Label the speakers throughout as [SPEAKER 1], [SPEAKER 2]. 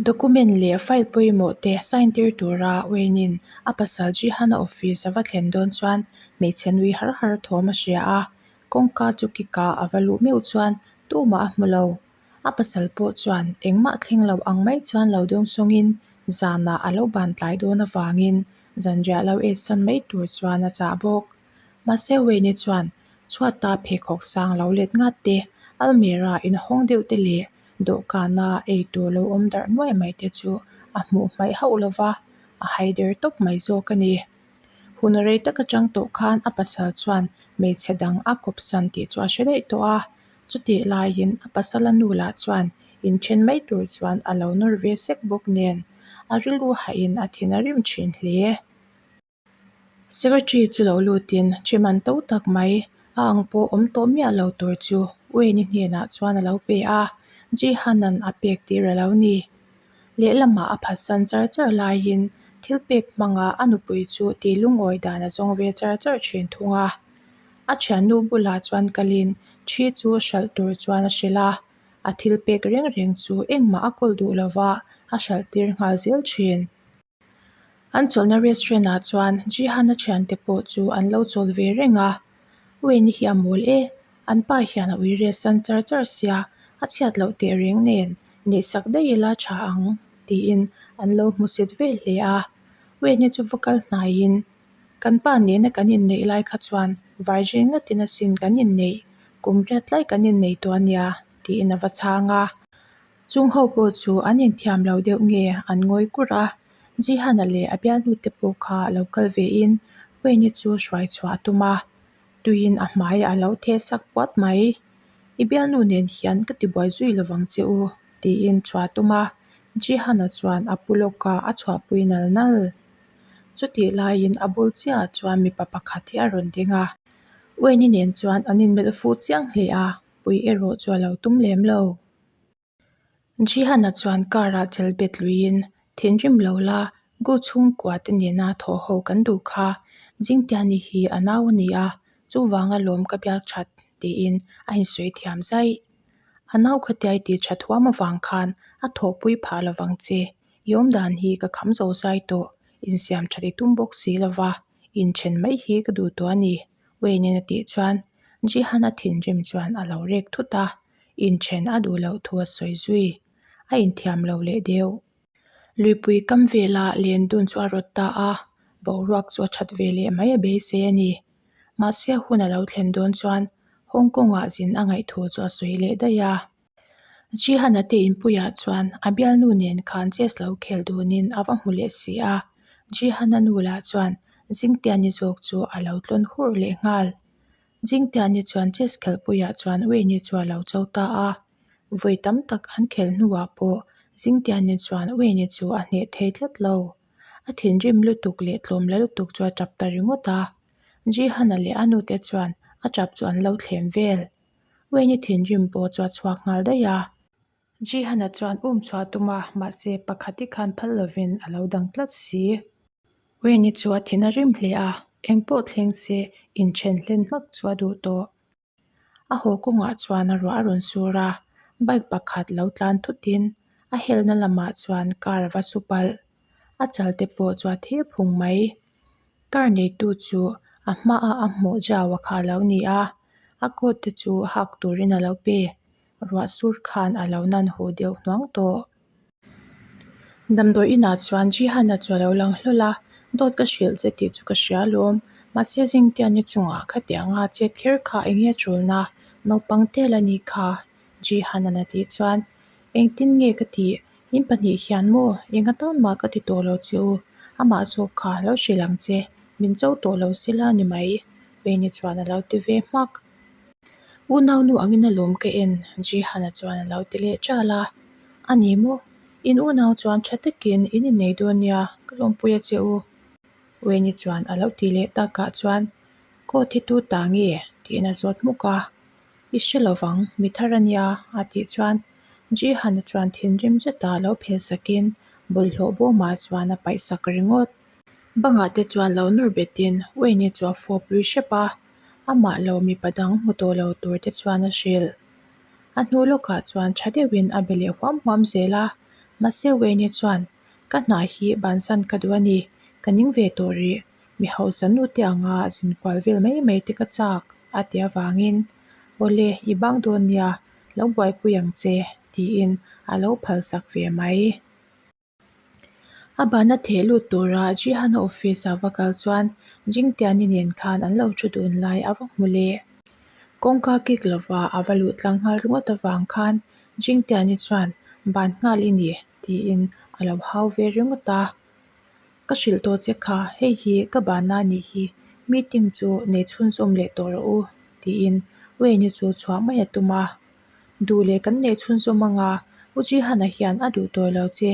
[SPEAKER 1] Document leh file pawimawh te sign tir tura Wayne in a pasal Jihan a office a va thlen dawn chuan hmeichhe nui har har thawm a hria a, kawngka chu kikah a va luh meuh chuan tumah a hmu lo. A pasal pawh chuan engmah thleng lo ang mai chuan lo dawng sawngin zanah a lo bantlai dawn avangin zanriah lo esan mai tur chuan a chah bawk. Mahse Wayne chuan chhuat a pheikhawk sang lo let ngat te, almera in hawng deuh te leh dawhkan a ei tur lo awm darh nuai mai te chu a hmuh hmaih hauh lo va, a haider tawp mai zawk a ni. Hun rei tak atang tawh khan a pasal chuan hmeichhe dang a kawpsan tih chu a hre daih tawh a, chutih laiin a pasala nu lah chuan inthen mai tur chuan a lo nawr ve sek bawk nen a rilru haihin a thina rim thin hle. Secretary chu lo lutin Chairman to tak mai a ang pawh awm tawh miah lo tur chu U N I hnenah chuan a lo pe a, Jeehanan a pek tih reh lo ni. Lehlamah a phasan char char laiin thil pek hmangah a nupui chu ti lungawi dan a zawng ve char char thin thung a. A thiannu bulah chuan Kalin thi chu hralh tur chuan a hrilh a, a thil pek reng reng chu engmah a kawl duh lova a hralh tir nghal zel thin. An chawlhna restaurant ah chuan Jihan-a thiante pawh chu an lo chawlh ve reng a, Wei ni hi a mawl e, an pa hian a ui resan char char sia, a chhiat loh teh reng nen, neih sak daih ila tha ang tiin an lo hmu set vel hle a. Wei ni chu va kal hnaiin, Kan pa nena kan inneih lai kha chuan Virgin ngatin asin kan inneih, kum riat tlai kan inneih tawh a nia, tiin a va chhang a. Chung ho pawh chu an inthiam lo deuh nge an ngawi kurh a, Jihana leh a bialnu te pawh kha a lo kal ve in Wayne-i chu hruai chhuah a tum a, tuiin a hmai a lo the sak puat mai. I bialnu nen hian ka ti buai zui lovang che u tiin chhuah a tum a, Jihana chuan a pu lawk a a chhuahpui nal nal. Chutih laiin a bul chiahah chuan mipa pakhat hi a rawn ding a, Wayne-i nen chuan an inmelh fu chiang hle a, pui erawh chu a lo tum lem lo. Jihan-a chuan car-a chel bet luiin, Thinrim lo la, Gu chhungkua te nena thawh ho kan duh kha, Jingtia ni hi a nau a ni a, chuvanga lawm ka biak that, tiin a insawi thiam zai. A nau khawtiai tih tha thuam avang khan a thawhpui phah lo vang che, Yawm dan hi ka kham zo zai tawh, insiam that i tum bawk si lo va, inthen mai hi ka duh tawh a ni, Wayne-in a tih chuan, Jihan-a thinrim chuan a lo rek thut a. inthen a duh loh thu a sawi zui. A inthiam lo leh deuh. Luipui kam velah Lendun chu a rawt ta a, boruak chu a that ve leh mai a beisei a ni. Mahse hun a lo thlen dawn chuan Hong Kongah zin a ngaih thu chu a sawi leh daih a. Jihan a te inpuiah chuan a bialnu nen khan chess lo khel dunin a va hmu leh si a, Jihan a nu lah chuan Zingtiani zawk chu a lo tlawn hur leh nghal. Zingtia ni chuan chess khelh puiah chuan Wei ni chu a lo cho ta a, vawi tam tak an khelh hnuah pawh Zingtia ni chuan Wei ni chu a hneh thei tlat lo. A thinrim lutuk leh tlawm la lutuk chu a tap ta ringawt a. Ji Hana leh a nu te chuan a tap chu an lo thlen vel. Wei ni thinrim pawh chu a chhuak nghal daih a. Jihana chuan um chhuah tum a, mahse pakhat hi khan phal lovin a lo dang tlat si. Wayne-i chu a thin a rim hle a, eng pawh thleng se in then hlen hmak chu a duh tawh. A haw kawngah chuan a ruah a rawn sur a, bike pakhat lo tlan thutin a helna lamah chuan car a va su palh. A chal te pawh chu a thir phung mai. Car neitu chu a hma a a hmuh jau a kha lo ni a, a coat te chu hak turin a lo pe. ruahsur khan a lo nan haw deuh hnuang tawh. Damdawi inah chuan Jihan-a chu a lo lang hlawl a, Dawt ka hrilh che tih chu ka hria lawm. Mahse zingte a ni chungah kha teh anga chet kher kha eng nge chulna? Naupang tel a ni kha, Jihan-a'n a tih chuan. Engtin nge ka ti? Min pahnih hian maw? Enga tawn mah ka ti tawh lo che u. Amah zawk kha lo hrilh ang che. Min cho tawh lo se la ni mai. Peini chuan a lo ti ve hmak. U Naunu angin a lawm ka en? Jihana chuan a lo ti leh ṭal a, A ni maw? In U Nau chuan ṭha takin, In i nei dawn nia, ka lawmpui a che u. Wayne-i chuan a lo ti leh takah chuan, Court hi tu ta nge? Tiin a zawt hmuk a, I hre lo vang, mi thar a nia, a tih chuan Jihana chuan thinrim zeta a lo phel sakin, bawlhhlawh bawma chuan a paih sak ringawt. Bangah te chuan lo nawr betin, Wayne-i chu a fawp lui hrep a. Amah lo mipa dang hmu tawh lo tur te chuan a hrilh. A hnu lawkah chuan tha deuhin a be leh huam huam zel a, Mahse Wayne-e chuan, Ka hna hi bansan ka duh a ni, ka ning ve tawh rih. Mi hausa nu te anga zin kual vel mai mai te ka chak, a ti avangin, Awle, i bang dawn nia, lo buaipui ang che, tiin a lo phalsak ve mai. A bahna theh lut tura Jihana office ah va kal chuan Jingtiani nen khan an lo thu dun lai a va hmu leh. Kawngka kik lova a va luh tlang nghal ringawt avang khan Jingtiani chuan Ban nghal i ni tiin a lo hau ve ringawt a. Ka hrilh tawh che kha, hei hi ka bahna a nih hi, meeting chu nei chhunzawm leh tawh rawh u tiin Wayne-i chu chhuah mai a tum a. Duh leh kan neih chhun zawm anga U Jihan-a hian a duh tawih lo che.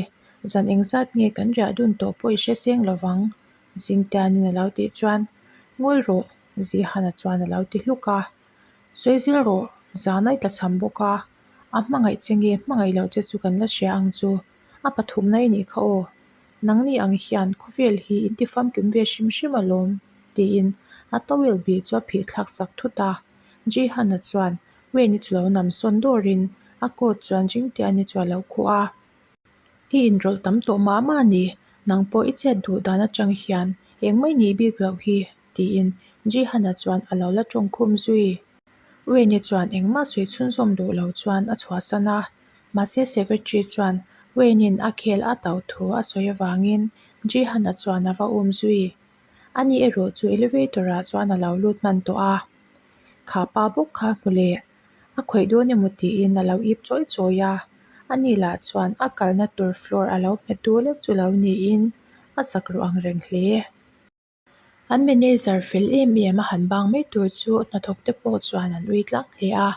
[SPEAKER 1] Zan eng zat nge kan riah dun tawh pawh i hre seng lo vang? Zingtianin a lo tih chuan Ngawi rawh, Jihan-a chuan a lo ti hluk a. Sawi zil rawh, zan a i tla chham bawk a. A hmangaih che nge hmangaih loh che chu kan la hria ang chu. A pathumna i nih kha aw. Nang ni ang hian khawvel hi in tifam kim ve hrim hrim alawm, tiin a towel bik chu a phihthlak sak thut a. Jihan-a chuan. Wei ni chu lo nam sawn dawr in a coat chuan jing te ani chu alo khuh a, i in rawlh tam tawh mah mah ni, nang pawh i chhiat duh dan atang hian eng mai ni bik loh hi ti in Jihan a chuan alo la tawng khum zui. Wei ni chuan eng mah sawi chhun zawm duh lo chuan a chhuah san a, mahse secretary chuan Wei nin a khel a tauh thu a sawi avang in Jihan a chuan ava um zui. A nih erawh chu elevator ah chuan a lo lut hman tawh a, kha pa bawk kha a hmu leh a khawih dawn emaw tiin a lo ip chawi chawi a, a nih lah chuan a kalna tur floor a lo hmet dual ek chu lo niin a sak rawh ang reng hle. An manager fel em em a han bang mai tur chu hnathawk te pawh chuan an ui tlang hle a,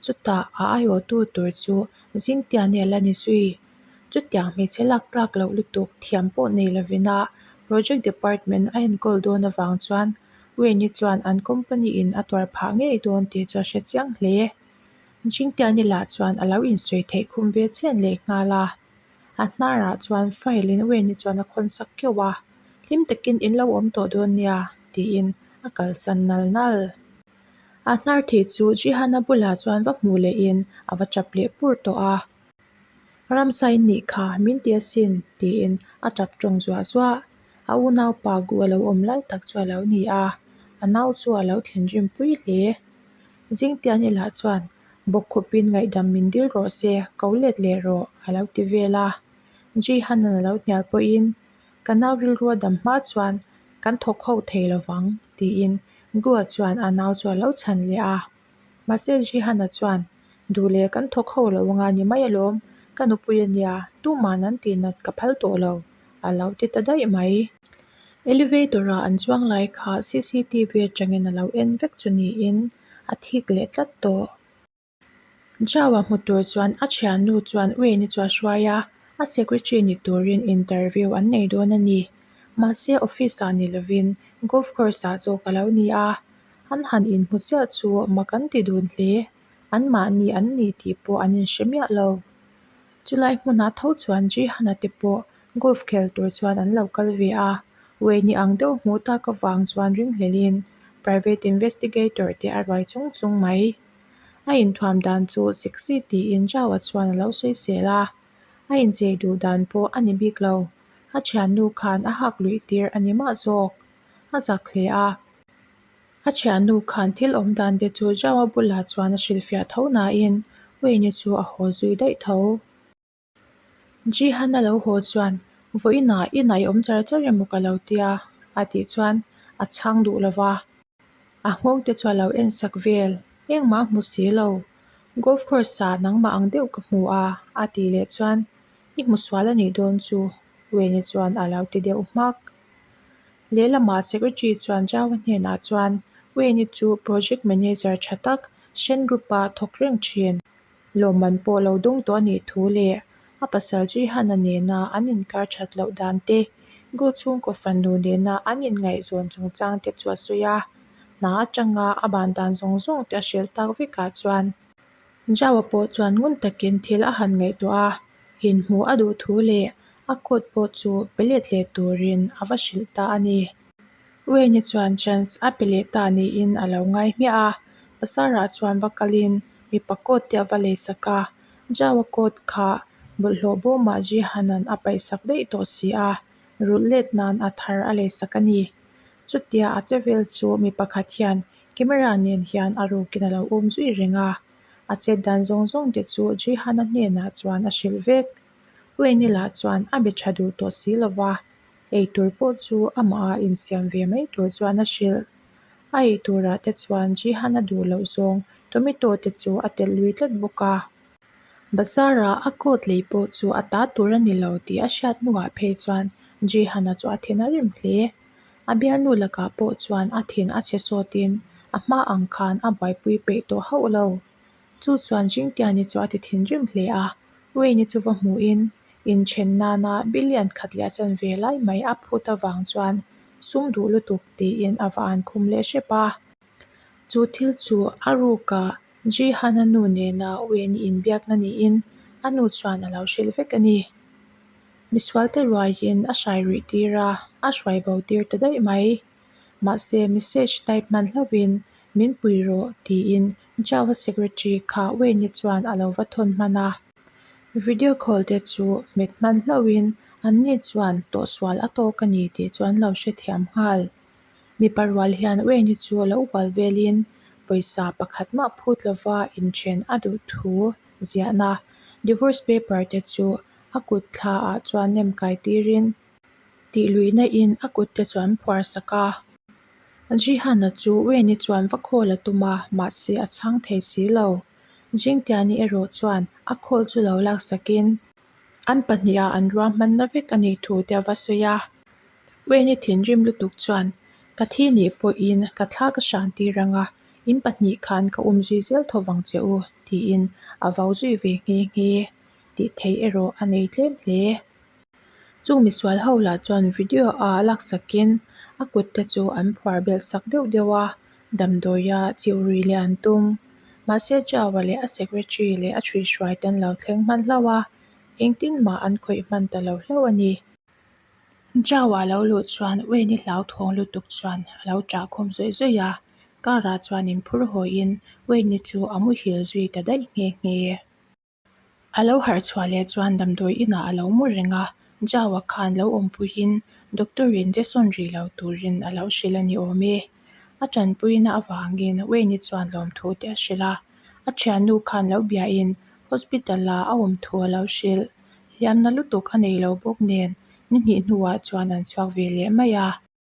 [SPEAKER 1] chutah a aiawhtu tur chu zing tiah nge la ni zui? Chutiang hmeichhe lak tlak loh lutuk thiam pawh nei lovin a project department a enkawl dawn avang chuan Wayne i chuan an company in a tuar phah ngei dawn tih chu a hre chiang hle. Jingtiani lah chuan a lo insawi theih khum ve chhian leh nghal a. A hnarah chuan file in Wayne i chuan a khawnsak kiau a, hlim takin in lo awm tawh dawn nia tiin a kalsan nal nal. A hnar thei chu Jihan-a bulah chuan va hmuh leh in a va tap leh pur tawh a. Ramsa in nih kha min ti asin, tiin a tap tawng zuah zuah. A unaupa guh a lo awm lai tak chu a lo ni a, a nau chu a lo thlen rinpui hle. Zingtian elah chuan bawkkhupin ngaihdam min dil rawh se, ko let leh rawh, a lo ti vel a. Jihanan a lo hnial pawhin, Ka nau rilrua dam hma chuan kan thawk ho thei lo vang, tiin Guha chuan a nau chu a lo chhan leh a. Mahse Jihana chuan, Duh le, kan thawk ho lo anga ni mai alawm, ka nupui a nia, tuma'n an tihna ka phal tawh lo, a lo ti ta daih mai. Elevator-a an chuang lai kha CCTV atangin a lo en vek chu niin a thik leh tlat tawh. Jia-a hmu tur chuan a thiannu chuan Ueni chu a hruai a, a secretary ni turin interview an nei dawn a ni. Mahse office-ah ni lovin golf course-ah zawk a lo ni a, an han inhmu chiah chu awma kan ti dun hle, anmahni an ni tih pawh an inhre miah lo. Chulai hmunah tho chuan Jihana te pawh golf khel tur chuan an lo kal ve a, wei ni ang deuh hmuh tak avang chuan ringhlelin private investigator te a ruai chung chung mai. A inthuam dan chu sexy tiin Jao-a chuan a lo sawi sel a, a inchei duh dan pawh a ni bik lo. A thiannu khan a hak luih tir a ni mah zawk, a zak hle a. A thiannu khan thil awm dan te chu zau a bulah chuan a hrilhfiah tho nain Wayne-i chu a haw zui daih tho. Ji-han a lo haw chuan, Vawiinah i nai awm char char emaw ka lo ti a, a tih chuan a chhang duh lo va. A nghawng te chu a lo en sak vel. Engmah hmu si lo. Golf course-ah nangmah ang deuh ka hmu a, a tih leh chuan i hmusual a nih dawn chu Wayne-i chuan a lo ti deuh hmak. Lehlamah secretary chuan Java hnenah chuan, Wayne-i chu project manager tha tak, Shen Group-a thawk reng thin, lawmman pawh lo dawng tawh a nih thu leh a pasal Jihan-a nena an inkar that loh dan te, Gu chhungkaw fannu nena an inngaihzawn chungchang te chu a sawi a. Hna atanga a ban dan zawng zawng te a hrilh tak vekah chuan, Jaua pawh chuan ngun takin thil a han ngaihtuah a, inhmu a duh thu leh a coat pawh chu pe let leh turin a va hrilh ta a ni. Wayne-i chuan chance a pe leh ta niin a lo ngai hmiah a, pasarah chuan va kalin mipa coat te a va lei sak a, Jaua coat kha bawlhhlawh bo mah Jihan-a'n a paihsak daih tawh si a, rulh let nan a thar a lei sak a ni. Chutia a che vel chu mi pakhat hian camera nen hian a rukin a lo awm zui reng a. A chet dan zawng zawng te chu Jihana hnenah chuan a hrilh vek. Ruinila chuan a be tha duh tawh si lo va, eitur pawh chu amaha insiam ve mai tur chuan a hrilh. A eiturah te chuan Jihana duh loh zawng tummy tawh te chu a telh lui tlat bawk a. Bazar-a a coat lei pawh chu a ta tur a ni lo tih a hriat hnuah phei chuan Jihan-a chu a then a rim hle. A bialnu lakah pawh chuan a then a che sawtin a hma ang khan a buaipui peih tawh hauh lo. Chu chuan Jingtiani chu a ti thin rim hle a, Wayne-i chu va hmuhin inchhen nana bilian khat leh a chanve lai mai a phut avang chuan sum duh lutuk tiin a va an khum leh hrep a. Chu thil chu a ruka Jihana nu nena uaih ni in biakna niin a nu chuan a lo hrilh vek a ni. Misualte ruaiin a hrai rih tir a, a hruai bo tir ta daih mai. Mahse message type hman hlauhin min pui rawh tiin Java secretary kha uaih ni chuan a lo va thawn hman a. Video call te chu met hman hlauhin anni chuan tawhsual a tawk a ni tih chu an lo hrethiam nghal. Mipa rual hian Wayne-i chu a lo ual velin pawisa pakhat mah phut lova inthen a duh thu ziahna divorce paper te chu a kut thla ah chuan nem kai tirin tih luihna in a kut te chu an phuar sak a. Jihan-a chu Wayne-i chuan va call a tum a, mahse a chhang thei si lo. Jingtian-i erawh chuan a call chu lo laksak in. An pahniha an ruah hmanna vek a nih thu te a va sawi a. Wayne-i thinrim lutuk chuan, Ka thi nih pawhin ka thla ka hran tir ang a, in pahnih khan ka um zui zel tho vang che u, tiin a vau zui ve nghe nghe. Tih theih erawh a nei tlem hle. Chung misual ho lah chuan video-a a laksakin a kutte chu an phuar belh sak deuh deuh a. damdawia chihrui leh an tum. Mahse Java leh a secretary leh a hrihhruai te an lo thleng hman hlauh a, engtin mah an khawih hman ta lo hlauh a ni. Java lo luh chuan Wayne-i hlauthawng lutuk chuan a lo chahkhawm zawih zawih a, car-ah chuan inphur hawiin Wayne-i chu a muhil zui ta daih nghe nghe. A lo harh chhuah leh chuan damdawi inah a lo mawr reng a, Java khan lo awmpuiin doctor in Jason rih lo turin a lo hrilh a ni awm e. A tanpuina avangin Wayne-i chuan lawmthu te a hrilh a, a thiannu khan lo biahin hospital-a a awmthu a lo hrilh. Hliamna lutuk a nei lo bawk nen, ni hnih hnuah chuan an chhuak ve leh mai a.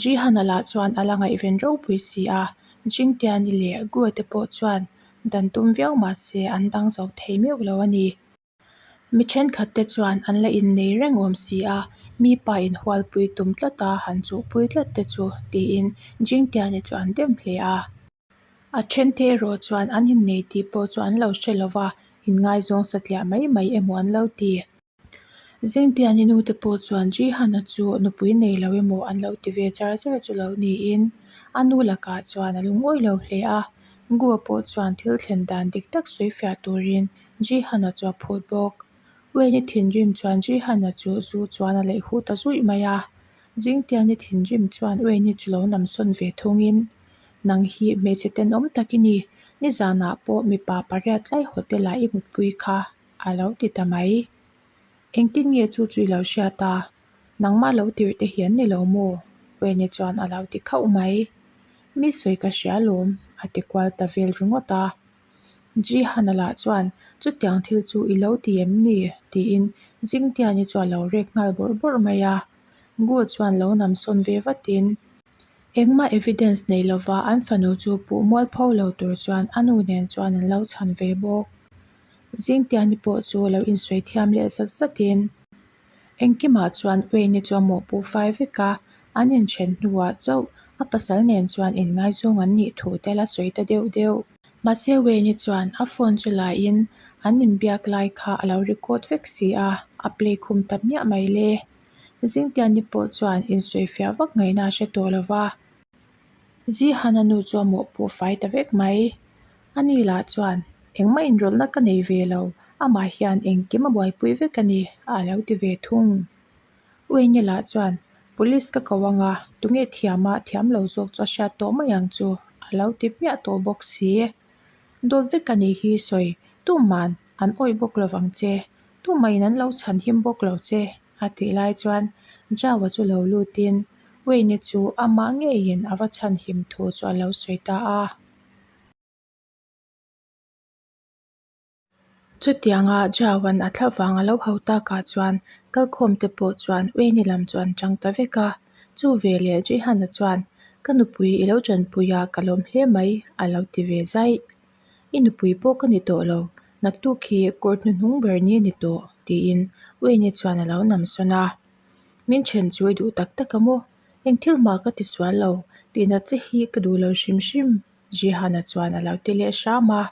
[SPEAKER 1] Jihan-a lah chuan a la ngaihven ropui si a, Jingtiani leh Guate pawh chuan dan tum viau mah se an dang zo thei meuh lo a ni. Mi thenkhat te chuan an la innei reng awm si a, mipa inhualpui tum tlata han chuhpui tlat te chu, tiin Jingtiani chu an dem hle a. A then te erawh chuan an innei tih pawh chu an lo hre lo va, inngaizawng satliah mai mai emaw an lo ti. Zengte an i nu te pawh chuan Jihana chu nupui nei lo emaw an lo ti ve char char chu lo niin a nu lakah chuan a lu ngawih lo hle a. Gua pawh chuan thil thlen dan dik tak sawi fiah turin Jihana chu a phut bawk. Wayne-i thinrim chuan Jihana chu zu chuan a leihhuh ta zuih mai a. Zingtial ni thinrim chuan Ui ni chu lo nam sawn ve thungin, Nang hi hmeichhe tenawm tak i ni. Nizanah pawh mipa pariat tlai hotel ah i mutpui kha a lo ti ta mai. Engtin nge chu chu i lo hriat a? Nangmah lo tirh te hian ni lo maw? Ui ni chuan a lo ti khauh mai. Misawi ka hria lawm, a ti kual ta vel ringawt a. Jihana lah chuan chutiang thil chu i lo ti em ni? tiin Zingtiani chu a lo rek nghal bawr bawr mai a. Gu chuan lo nam sawn ve vatin, Engmah evidence nei lova an fanu chu puh mual pho lo tur chuan a nu nen chuan an lo chhan ve bawk. Zingtiani pawh chu a lo insawi thiam leh zat zatin. Engkimah chuan Uini chu a mawhpu fai vek a, an inthen hnuah chauh a pasal nen chuan inngaizawng an nih thu tel a sawi ta deuh deuh. Mahse Uini chuan a phone chu laiin an inbiak lai kha a lo record vek si a, a play khum ta miah mai le. Zingtianni pawh chuan insawi fiah vak ngaihna a hre tawh lo va. Zihana nu chu a mawh pawh fai ta vek mai. A ni lah chuan engmah inrawlhna ka nei ve lo, amah hian engkim a buaipui vek a ni a a lo ti ve thung. U Enge lah chuan Police ka ko ang a, tunge thiam a thiam lo zawk chu a hriat tawh mai ang chu a lo ti hmiah tawh bawk si. Dawt vek a nih hi sawi tum an. an awih bawk lo vang che, tu maiin an lo chhan him bawk lo che, a tih lai chuan Java chu lo lutin Wayne chu amah ngeiin a va chhan him thu chu a lo sawi ta a. Chutianga Java-n a thlah vang a lo hau takah chuan kalkhawm te pawh chuan Wayne lam chu an chang ta vek a. Chu ve leh Jehan-a chuan, Ka nupui i lo chanpuia ka lawm hle mai, a lo ti ve zaih. I nupui pawh ka ni tawh lo, naktuk hi kawr hnuhnung ber ni a ni tawh, tiin Uini chuan a lo nam sawn a. Min then chu i duh tak tak a maw? Eng thil mah ka ti sual lo, tihna che hi ka duh lo hrim hrim, Zhihana chuan a lo ti leh hram a.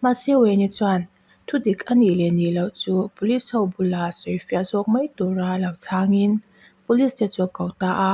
[SPEAKER 1] Mahse Uini chuan thudik a nih leh nih loh chu police ho bulah sawifiah zawk mai tura a lo chhangin police te chu a ko ta a.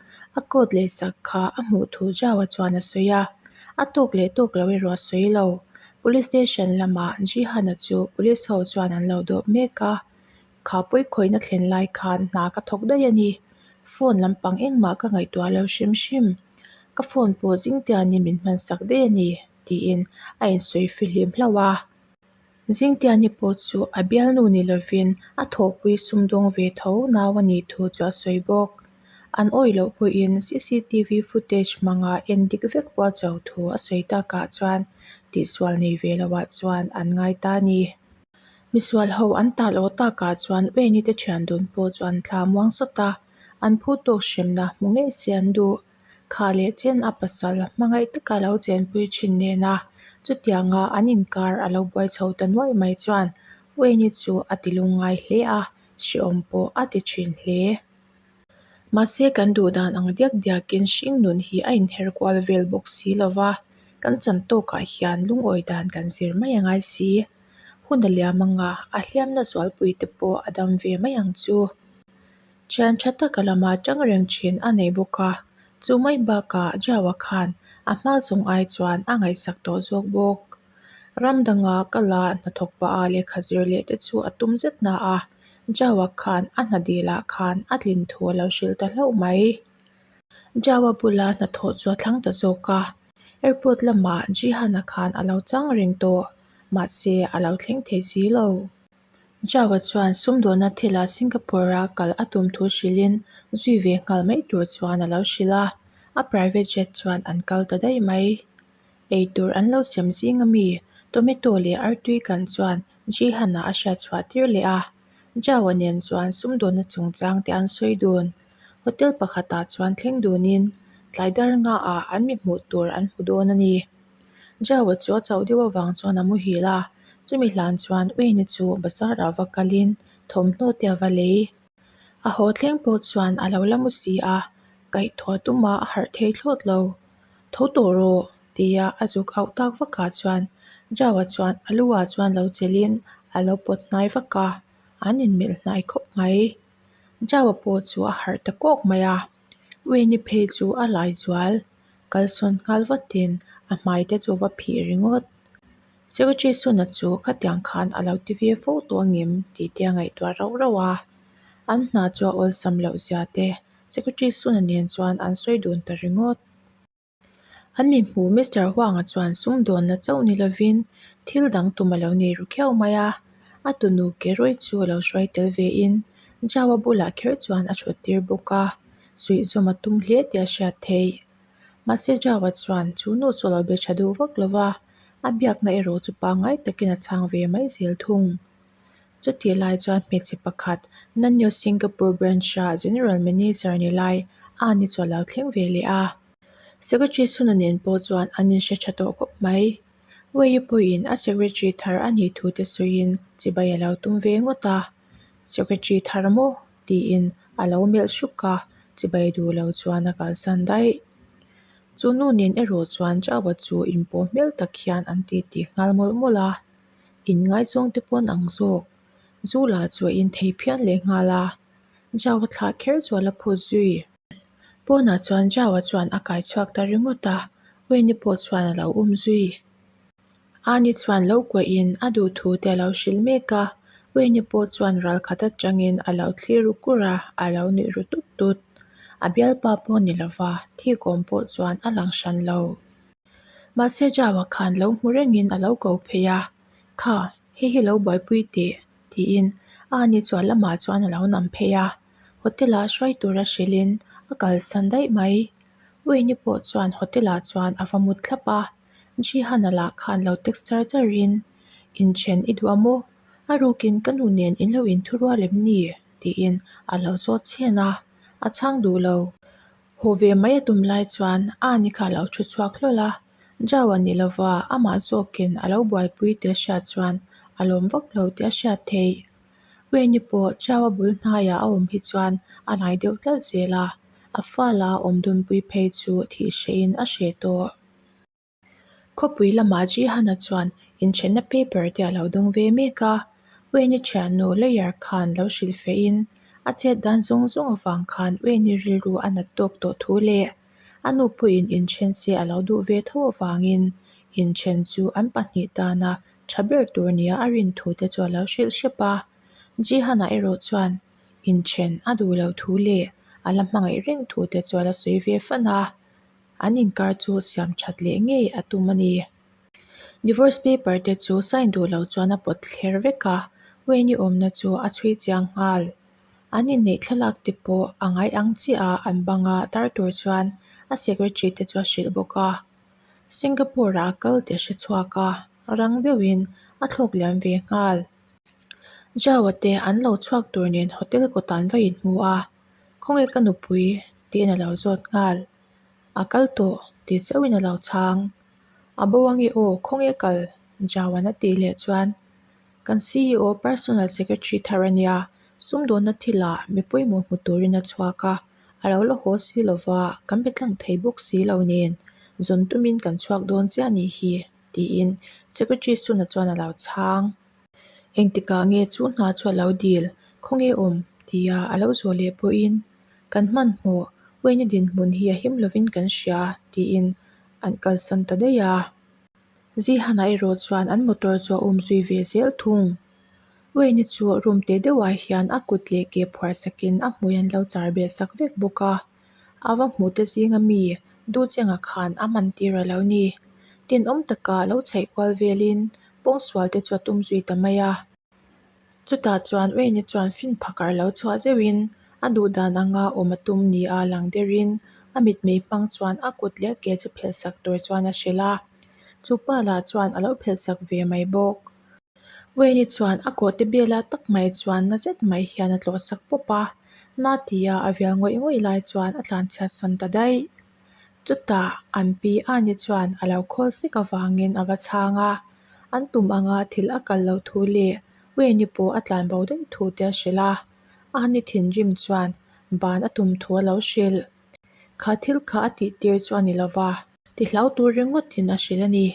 [SPEAKER 1] A kawt leh sak kha a hmuh thu zau a chuan a sawi a, a tawk leh tawk lo erawh a sawi lo. Police station lamah Jihana chu police ho chuan an lo dawp mek a, kha pawi khawihna thlen lai khan hna ka thawk daih a ni. Phone lampang engmah ka ngaihtuah lo hrim hrim. Ka phone pawh zingtianin min hmansak daih a ni, tiin a insawi fihlim hlauh a. Zingtiahni pawh chu a bialnu ni lovin a thawhpui sumdawng ve tho nau a nih thu chu a sawi bawk. An awih loh pawhin cctv footage hmanga en dik vek pawh a cho thu a sawi ta kah chuan tihsual nei ve lo ah chuan an ngai ta a ni. Misual ho an tah lo ta kah chuan Wayne-i te thian dun pawh chu an thla muang sawt a, an phutawk hremna hmu ngei se an duh. Kha leh chian a pasal hmangaih taka lo chenpui thin nen a, chutianga an inkar a lo buai chho ta nuaih mai chuan Uaini chu a ti lung ngai hle a, hreawm pawh a ti thin hle. Mahse kan duh dan ang diak diakin hringnun hi a inher kual vel bawk si lo va, kan chan tawkah hian lungawi dan kan zir mai a ngai si. Hun a liam anga a hliamna zualpuite pawh a dam ve mai ang chu. Thian tha taka lama tang reng thin a nei bawk a, chu mai bakah Java khan a hma zawng ai chuan a ngaihsak tawh zawk bawk. Ram danga ka la hnathawk pa a lehkha zir leh te chu a tum zet hna a, Java khan a hnadil ah khan a tlin thu a lo hrilh ta hlauh mai. Java bula hnathawh chu a thlang ta zawk a, airport lamah Jihan-a khan a lo chang reng tawh, mahse a lo thleng thei si lo. Zhao-a chuan sumdawhna thila Singapore-a kal a tum thu hrilhin zui ve nghal mai tur chuan a lo hrilh a, a private jet chuan an kal ta daih mai. Eitur an lo siam zing a mi Tomato leh Artui kan chuan Jihan-a a hria chhuah tir leh a, Zhao-a nen chuan sumdawhna chungchang te an sawi dun. Hotel pakhatah chuan thleng dunin tlai dar nga ah an mi hmuh tur an hmu dawn a ni. Jaua chu a chauh deuh avang chuan a muhil a, chumi hlan chuan Uini chu bazar ah va kal in thawmhnaw te a va lei. A haw thleng pawh chuan a lo la maw si a, kaih thua tum a, a harh thei thlawt lo. Tho tawh rawh, tia a zuk auh tak vak ah chuan Jaua chuan a lu ah chuan lo chelh in a lo pawt hnai vak a, an in melh hnai khawp mai. Jaua pawh chu a harh ta kawk mai a. Ui ni phei chu a lai zual, kalsawn nghal vatin a hmai te chu va phih ringawt. Secretary Suna chu khatiang khan a lo ti vir fo tawh angem tih te a ngaihtuah rauh rauh a. An hna chu a awlsam loh zia te, Secretary Suna nen chuan an sawi dun ta ringawt. An mi hmu Mister Huanga chuan sumdawnna chauh ni lovin thil dang tum a lo nei ru khiau mai a. A tunu ke rawi chu a lo hruai tel ve in Jao a bulah kher chuan a chhut tir bawk a, suihzawm a tum hle tih a hriat theih. Mahse Jao a chuan chu nu chu a lo be tha duh vak lova, a biakna erawh chu pangngai takin a chhang ve mai zel thung. Chutih lai chuan hmeichhe pakhat Nanyo Singapore Branch-a General Manager a ni lai a an ichhuah lo thleng ve leh a. Secretary Suna nen pawh chuan an inhre tha tawh khawp mai. Wei Yipuiin a Secretary thar a nih thu te sawiin chibai a lo tum ve ngawt a. Secretary thar maw? tiin a lo melh hruk a, chibai duh lo chuan a kalsan daih. Chu nu nen erawh chuan Java chu inpawh hmel tak hian an titih nghal mawlh mawlh a. Inngaihchuangte pawn ang zawk. Zu lah chuah in thei phian leh nghal a Jao a thlah kher chuan a phut zui. Pawnah chuan Jao a chuan a kai chhuak ta ringawt a, Wei-ni pawh chuan a lo um zui. Aani chuan lo kuah in a duhtu te a lo hrilh mek a, Wei-ni pawh chuan ral khat atang in a lo thlir ru kur a, a lo nuih ru tut tut. A bialpa pawh ni lova, thik awm pawh chuan a lang hran lo. Mahse Java khan lo hmu rengin a lo ko phei a, Kha, hei hi lo buaipui teh, tiin a ni chuan lamah chuan a lo nam phei a. Hotel-a hruai tura hrilhin a kalsan daih mai. Wayne-i pawh chuan hotel-ah chuan a va mut thlap a. Jihan-a lah khan lo text char char in, Inṭhen i duh a maw? A rukin ka nu nen in lo inthurual em ni? tiin a lo zawt chhian a. A chhang duh lo. Haw ve mai a tum lai chuan Aani kha a lo thu chhuak hlawl a, Jao a nih lo va, amah zawkin a lo buaipui tel hriat chuan a lawm vak lo tih a hriat theih. Weini pawh Jao a bul hnaiah a awm hi chuan a hnai deuh tlalh zel a, a fa la awm dunpui phei chu thih hrehin a hre tawh. Khawpui lamah Jihana chuan inthianna paper te a lo dawng ve mek a. Ueni thiannu lawyer khan lo hrilh feh in, a chet dan zawng zawng avang khan Ueni rilru a nat tawk tawh thu leh a nu pawhin inthian se a lo duh ve tho avangin inthian chu an pahnih tana tha ber tur nia a rin thu te chu a lo hrilh hrep a. Jihana erawh chuan inthian a duh lo thu leh a la hmangaih reng thu te chu a la sawi ve fan a. an inkar chu siam that leh ngei a tum a ni. Divorce paper te chu sign duh loh chuan a pawt thler vek a, Wayne-i awmna chu a chhui chiang nghal. An inneih thlalak te pawh a ngai ang chiah a, an banga tar tur chuan a secretary te chu a hrilh bawk a. Singapore-ah a kal teh hre chhuak a, rang deuhin a thlawk liam ve nghal. Jawa te an lo chhuak tur nen hotel kawtan va inhmu a. Khawnge ka nupui? tiin a lo zawt nghal. A kal tawh ti chauhin a lo chhang. A bo ange aw, khawnge kal? Jawan a tih leh chuan Kan CEO, Personal Secretary thar a nia, sumdawnna thilah mi pawimawh hmu turin a chhuak a, a lo la haw si lo va, kan be tlang thei bawk si lo nen, zawn tumin kan chhuak dawn che a nih hi, tiin Secretary Suna chuan a lo chhang. Eng tikah nge chu hna chu a lo dil? Khaw nge awm? tia a lo zawh leh pawhin, Kan hmanhmawh, Wayne-a dinhmun hi a him lovin kan hria, tiin an kalsan ta daih a. Zihan-a erawh chuan an motor chu a um zui ve zel thung. Wayne-a chu room teh deuhah hian a kut leh ke phuar sakin a hmui an lo char beh sak vek bawk a. a va hmuh te zing a mi duhcheng ah khan a man tir a lo ni. Tinawm takah lo chhaih kual velin pawng sual te chu a tum zui ta mai a. Chutah chuan Wayne-a chuan fin phak arh lo chhuah zeuh in a duh dan anga awm a tum ni a lang der in a mitmei hmang chuan a kut leh a ke chu phelh sak tur chuan a hrilh a. Chu pa lah chuan a lo phelh sak ve mai bawk. Wayne chuan a kawhte bela tak mai chuan na zet mai hian a tlawh sak pawp a, Natia a vial ngawih ngawih lai chuan a tlan chhiat san ta daih. Chutah an pi Anne chuan a lo khawl sik avangin a va chhang a, an tum anga thil a kal lo thu leh Wayne pawh a tlan bo daih thu te a hrilh a. Anne thinrim chuan ban a tum thu a lo hrilh. Kha thil kha a tihtir chu a ni lova, Tihlau tur ringawtin a hrilh a ni.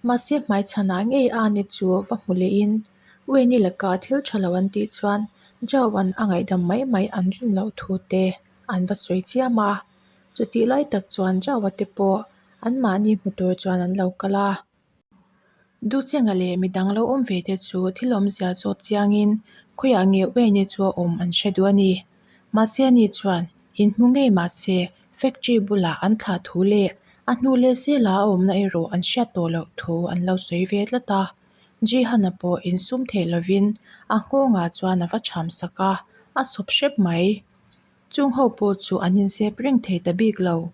[SPEAKER 1] Mahse hmaichhanah ngei a ni chu va hmu lehin Wayne-i laka thil tha lo an tih chuan Joe-a'n a ngaihdam mai mai an rin loh thu te an va sawi chiam a. Chutih lai tak chuan Joe-a te pawh anmahni hmu tur chuan an lo kal a. Duhchenga leh mi dang lo awm ve te chu thil awmzia zawt chiangin khawiah ngeuh ve nge chu a awm an hre duh a ni. Mahse a ni chuan in hmu ngei mah se factory bulah an thlah thu leh a hnu leh sela a awmna erawh an hriat tawh loh thu an lo sawi ve tlat a. Jihana pawh in sum theih lovin a nghawngah chuan a va chham sak a, a sawp hrep mai. Chung ho pawh chu an insep reng thei ta bik lo.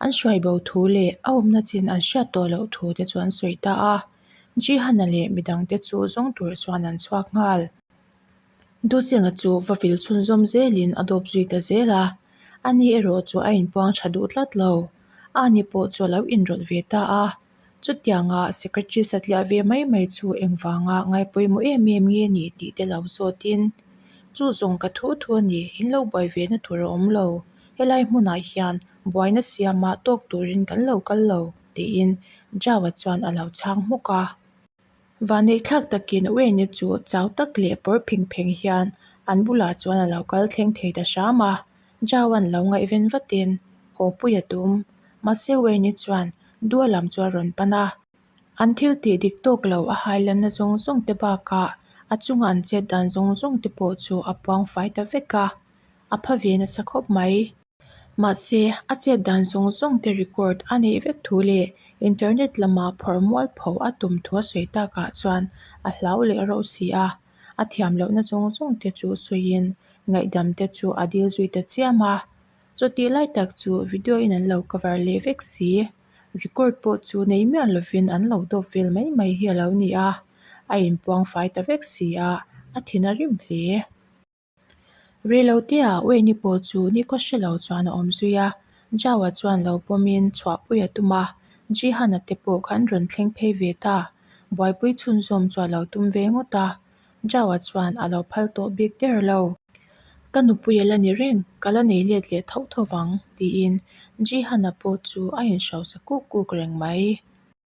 [SPEAKER 1] An hruai bo thu leh a awmna chin an hriat tawh loh thu te chu an sawi ta a. Jihana leh midang te chu zawng tur chuan an chhuak nghal. Duhchenga chu va vil chhunzawm zelin a dawp zui ta zel a, ani erawh chu a inpuang tha duh tlat lo. Ani pawh chu a lo inrawlh ve ta a. Chutiangah Secretary satliah ve mai mai chu engvanga ngaipawimawh em em nge ni tih te lo zawtin, Chu zawng ka thu thu a ni, in lo buai ve na tur a awm lo, helai hmunah hian buaina siama tawk turin kan lo kal lo, tiin Java chuan a lo chhang hmawk a. Vaneihthlak takin Wayne-a chu chau tak leh pawr pheng pheng hian an bulah chuan a lo kal thleng thei ta hram a, Joe-an lo ngaih ven vatin, Khawpui a tum. Mahse Wayne-a chuan dual lam chu a rawn pan a, an thil tih dik tawk lo a hailanna zawng zawng te bakah a chunga an chet dan zawng zawng te pawh chu a puang fai ta vek a, a pha ve nasa khawp mai. Mahse, a chet dan zawng zawng te record a neih vek thu leh internet lamah phawrh mual pho a tum thu a sawi takah chuan a hlau leh reuh si a. A thiam lohna zawng zawng te chu sawiin ngaihdam te chu a dil zui ta chiam a. Chawtih lai tak chu video in an lo cover leh vek si. Record pawh chu nei miah lovin an lo dawp vel mai mai hi a lo ni a. A inpuang fai ta vek si a, a thin a rim hle. Rilo tia Ueni pawh chu ni ka hre lo chuan a awm zui a, Jao-a chuan lo pawmin chhuahpui a tum a, Jihan-a te pawh kha an rawn thleng phei ve ta. Buaipui chhunzawm chu a lo tum ve ngawt a, Jao-a chuan a lo phal tawh bik der lo. Ka nupui a la ni reng, ka la nei let leh tho tho vang, tiin Jihan-a pawh chu a inhrosa kuk kuk reng mai.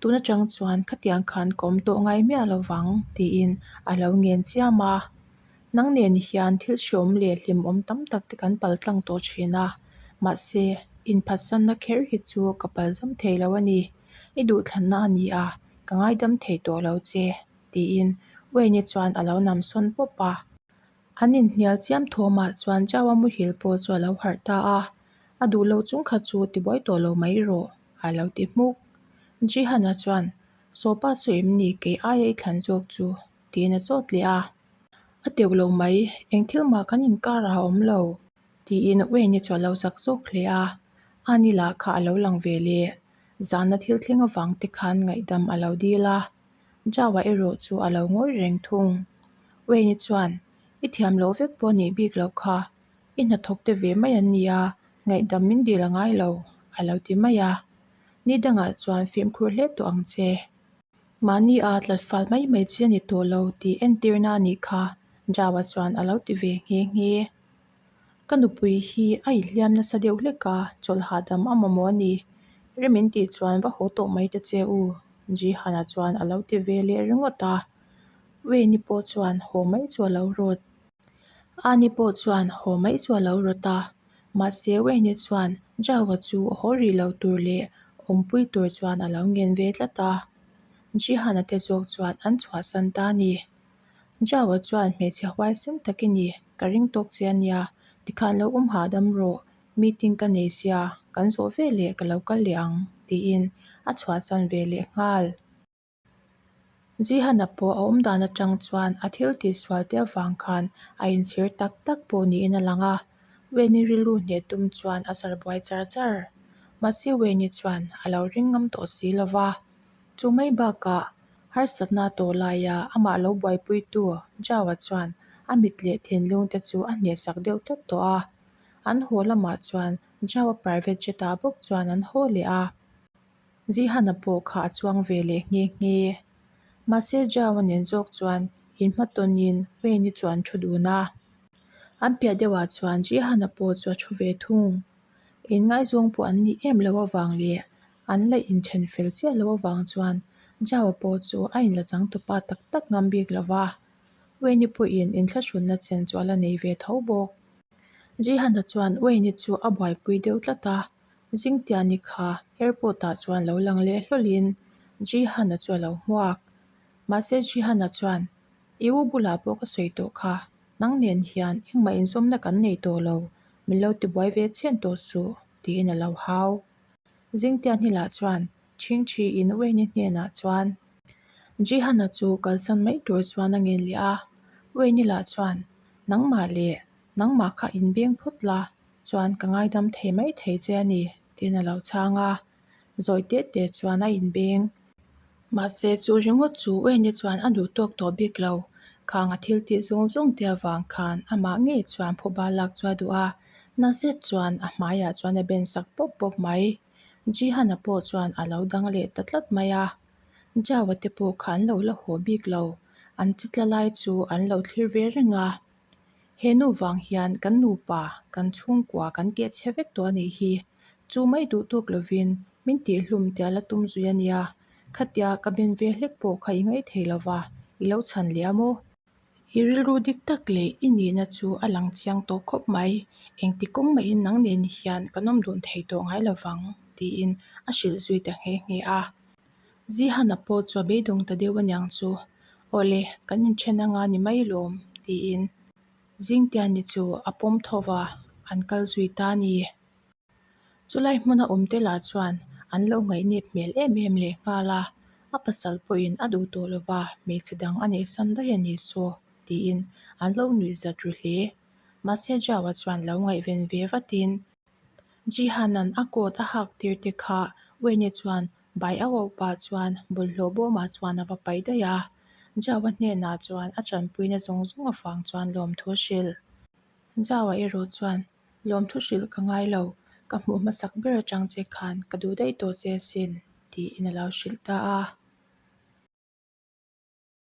[SPEAKER 1] Tun atang chuan khatiang khan kawm tawh ngai miah lo vang tiin a lo ngen chiam a, nang nen hian thil hriawm leh hlimawm tam tak te kan pal tlang tawh thin a, mahse inphatsanna kher hi chu ka pal zam thei lo a ni, i duhthlanna a ni a, ka ngaidam thei tawh lo che tiin Wayne-a chuan a lo namsawn pawp a. An inhnial chiam thuam ah chuan Chau-a muhil pawh chu a lo harh ta a, a duh lo chung kha chu ti buai tawh lo mai rawh a lo ti hmuk. Jihan-a chuan, Sawpa sawi em ni kei aia i thlan zawk chu? tiin a chawt leh a. A deuh lo mai, eng thil mah kan inkar a awm lo. Tiin Wayne-i chu a lo zak zawk hle a, Anila kha a lo lang ve le, zanna thil thleng avang te khan ngaihdam a lo dil a, Java erawh chu a lo ngawi reng thung. Wayne-i chuan, I thiam loh vek pawh a nih bik loh kha. I hnathawk te ve mai an ni a, ngaihdam min dil a ngai lo, a lo ti mai a. Ni dangah chuan fimkhur hle tawh ang che. Mahnia tlat fal mai mai chi a ni tawh lo tih entirna a nih kha, Java chuan a lo ti ve nghe nghe. Ka nupui hi a inhliam nasa deuh hlek a, chawlh hahdam a mamawh a ni. Rem in tih chuan va haw tawh mai ta che u, Jihan-a chuan a lo ti ve leh ringawt a. Wei-ni pawh chuan haw mai chu a lo rawt. Ani pawh chuan haw mai chu a lo rawt a, mahse Wei-ni chuan Zhao-a chu haw rih loh tur leh awmpui tur chuan a lo ngen ve tlat a. Jihan-a te zawk chuan an chhuahsan ta a ni. Joe-a chuan, Hmeichhe huai sen tak i ni, ka ring tawk che a nia, tikhan lo awm hahdam rawh, meeting ka nei sia, kan zawh ve leh ka lo kal leh ang, tiin a chhuahsan ve leh nghal. Zihan-a pawh a awmdan atang chuan a thil tihsual te avang khan a inchhir tak tak pawh niin a lang a, Wayne-i rilru hneh tum chuan a zarh buai char char. Mahse Wayne-i chuan a lo ring ngam tawh si lo va. Chu mai bakah, harsatna tawh laia amah lo buaipuitu Joe-a chuan a mit leh thinlungte chu a hnehsak deuh tawt tawh a. An haw lamah chuan Joe-a private jet-ah bawk chuan an haw leh a. Zihan-a pawh kha a chuang ve leh nghe nghe. Mahse, Joe-a nen zawk chuan in hma tawnin Wayne-i chu an thu dun a. An piah deuhah chuan Zihan-a pawh chu a thu ve thung. In ngaihzuang pawh an nih em lo avang leh An la inthen fel chiah loh avang chuan Java pawh chu a in la chang tawp a tak tak ngam bik lo va. Wayne-i pawhin in thlahrutna chen chu a la nei ve tho bawk. Jihan-a chuan Wayne-i chu a buaipui deuh tlat a, Zingtiani kha airport-ah chuan lo lang leh hlawlhin Jihan-a chu a lo hmuak. Mahse Jihan-a chuan, I u bulah pawh ka sawi tawh kha, nang nen hian engmah inzawmna kan nei tawh lo, min lo tibuai ve chhian tawh suh, tiin a lo hau. Zingtia hni lah chuan chhing thi in Wayne-i hnenah chuan Jihan-a chu kalsan mai tur chuan a ngen leh a, Wayne-i lah chuan nangmah leh nangmah kha in beng phawt la chuan ka ngaidam thei mai thei che a ni tiin a lo chhang a, zawi teh teh chuan a in beng. Mahse, chu ringawt chu Wayne-i chuan a duh tawk tawh bik lo. Khang-a thil tih zawng zawng te avang khan amah ngei chuan phawhbal lak chu a duh a, na zet chuan a hmaiah chuan a ben sak pawp pawp mai. Ji-han-a pawh chuan a lo dang leh ta tlat mai a. Jao-a te pawh kha an lo la haw bik lo, an chitla lai chu an lo thlir ve reng a. He nu vang hian kan nupa, kan chhungkua kan tih a chhe vek tawh a nih hi. Chu mai duhtuk lovin min tihhlum tia la tum zui a nia. Khatia ka ben ve hlek pawh kha i ngaih thei lova, i lo chhan leh a maw? I rilru dik tak leh i nihna chu a lang chiang tawh khawp mai. Engti kawng mahin nang nen hian kan awm dun thei tawh ngai lovang, tiin a hrilh zui ta nghe nghe a. Zihana pawh chu a beidawng ta deuh aniang chu. Awle, kan inthen anga ni mai lawm, tiin Zingtianni chu a pawm thova an kal zui ta ni. Chulai hmun a awmte lah chuan an lo ngaihnet hmel em em leh nghal a, a pasal pawhin a duh tawh lova hmeichhe dang a nehsan daih a ni saw, tiin an lo nuihzat ru hle. Mahse Joe-a chuan lo ngaih ven ve vatin. Jihanan a kawt a hak tir te kha Wayne-e chuan bai a auh pah chuan bawlhhlawh bawmah chuan a va pai daih a. Jao-a hnenah chuan a ṭanpuina zawng zawng avang chuan lawmthu a hrilh. Jao-a erawh chuan, Lawmthu hrilh ka ngai lo, ka hmuh hmasak ber aṭang che khan ka duh daih tawh che asin, tiin a lo hrilh ta a.